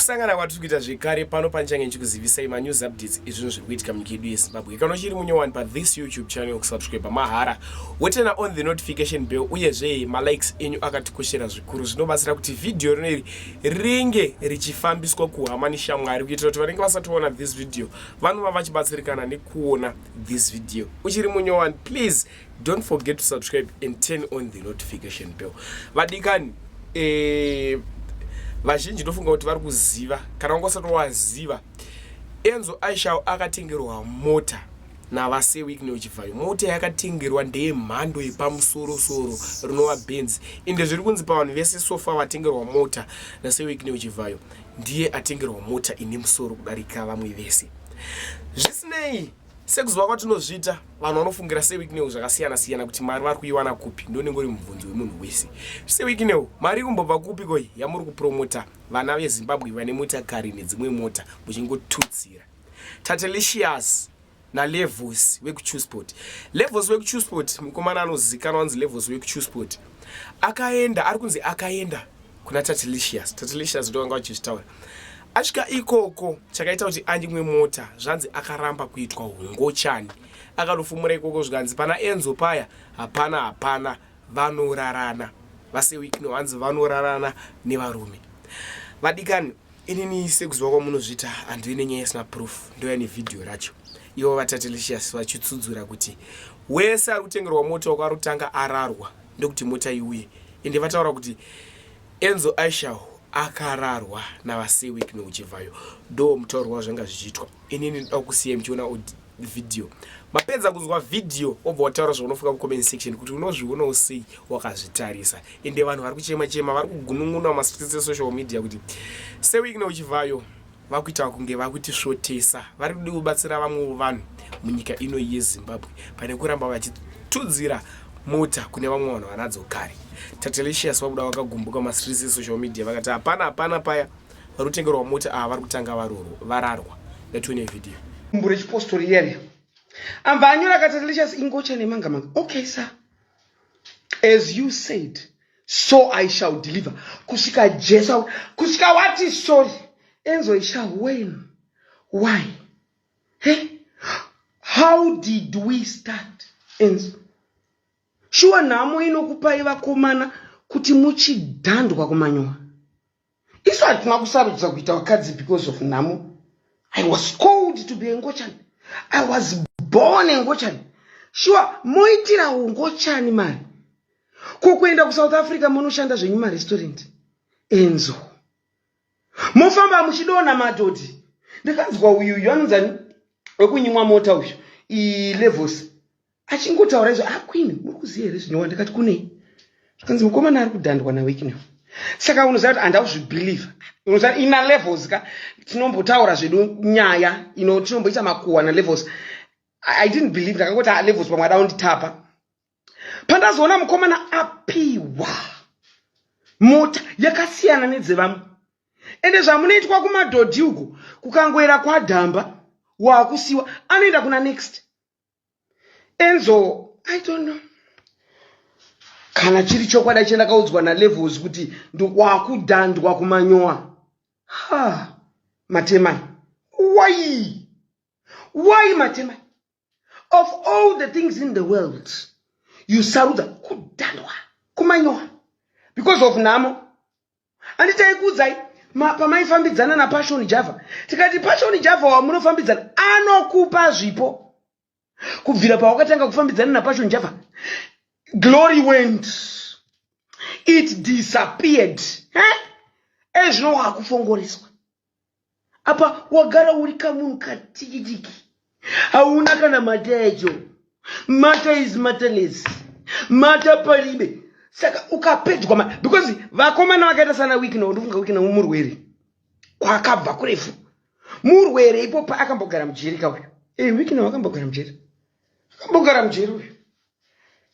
Kusangana kwatiri kuita zvekare pano panichange ndichikuzivisai manews updates ezvinhu zviri kuitika munyika yedu yezimbabwe kana uchiri munyowani pathis youtube channel kusubscribe mahara wotena on the notification bell uyezve malikes enyu akatikoshera zvikuru zvinobatsira kuti vhidhiyo rino iri ringe richifambiswa kuhama neshamwari kuitira kuti vanenge vasatoona this video vanova vachibatsirikana nekuona this video uchiri munyowani please don't forget to subscribe and turn on the notification bell vadikani eh, vazhinji ndofunga kuti vari kuziva kana wanga usati waziva enzo aishao akatengerwa mota navaseweek neuchivhayo mota yakatengerwa ndeyemhando yepamusorosoro rinova benz ende zviri kunzi pavanhu vese sofa vatengerwa mota naseweek neuchivhayo ndiye atengerwa mota ine musoro kudarika vamwe vese zvisinei Sekuziva kwatinozviita, vanhu vanofungira seWicknell zvakasiyana siyana kuti mari vari kuiwana kupi ndonenge uri mubvunzo wemunhu wese. SeWicknell, mari ikumbobva kupi koi yamuri kupromota vana veZimbabwe vane motakari nedzimwe mota muchingotutsira? Tatelicious naLevos vekuChusport. Levos vekuChusport mukomana anozikanwa anzi Levos wekuChusport. Akaenda, ari kunzi akaenda kuna tatilicious tatilicious ndo vanga vachizvitaura asvika ikoko chakaita kuti anyimwe mota zvanzi akaramba kuitwa hungochani akanofumura ikoko zvikanzi pana enzo paya hapana hapana vanorarana vasewikno hanzi vanorarana nevarume vadikani inini sekuziva kwamunozviita handive nenyaya isina proof ndoya nevhidhiyo racho ivo vatatelicious vachitsudzura kuti wese ari kutengerwa mota wakarutanga ararwa ndokuti mota iuye ende vataura kuti enzo aishal akararwa navaseweek neuchivhayo ndo mutauro wavo zvanga zvichiitwa ini ndinoda kusiya muchiona vhidhiyo mapedza kunzwa vhidhiyo wobva wataura zvaunofunga kucomment section kuti unozvionawo sei wakazvitarisa ende vanhu vari kuchema chema vari kugunun'una mumastreets esocial media kuti seweek neuchivhayo vakuita kunge vakutisvotesa vari kudi kubatsira vamwewo vanhu munyika ino yezimbabwe pane kuramba vachitudzira mota kune vamwe vanhu vanadzo kare tatelicious vabuda vakagumbuka masirisi esocial media vakati hapana hapana paya vari kutengerwa mota ava vari kutanga vararwa yatione vhidhiyo mbure chipostori iyani ambva anyora ka tatelicious ingocha nemangamanga okay sa as you said so i shall deliver kusvika jesu kusvika wati sorry enzo isha when why he how did we start enzo shuwa nhamo inokupai vakomana kuti muchidhandwa kumanyora isu hatina kusarudza kuita vakadzi because of nhamo i was called to be engochani i was born engochani shuwa moitira ungochani mari ko kuenda kusouth africa monoshanda zvenyu marestaurant enzo mofamba muchidona madhodhi ndikanzwa uyu uyu anonzani wekunyimwa mota uyu ilevosi achingotaura izvo ah queen muri kuziva here zvinowa ndikati kunei zvikanzi mukomana ari kudhandwa nawicknel saka unoziva kuti handa kuzvibelieve unoziva ina levels ka tinombotaura zvedu nyaya ino tinomboita makuhwa nalevels i didn't believe ndakangoti ah, levels pamwe ada unditapa pandazoona mukomana apiwa mota yakasiyana nedzevamwe ende zvamunoitwa kumadhodhi uko kukangoera kwadhamba waakusiwa anoenda kuna next enzo i don't know kana chiri chokwadi chandakaudzwa nalevels kuti ndikwakudhandwa kumanyowa ha matemai why why matemai of all the things in the world you sarudza kudhandwa kumanyowa because of nhamo Andi taikuudzai pamaifambidzana naPassion Java tikati Passion Java wamunofambidzana anokupa zvipo. Kubvira pawakatanga kufambidzana naPassion Java glory went it disappeared. Eh? Ezvino wakufongoreswa. apa wagara uri kamunhu katikitiki hauna kana mata yacho mata is mataless mata paribe saka ukapedzwa ma because vakomana vakaita sana wikina undifunga wikina murwere kwakabva kurefu murwere ipo paakambogara mujeri kauyo e eh, wikina wakambogara mujeri akambogara mujeri uyo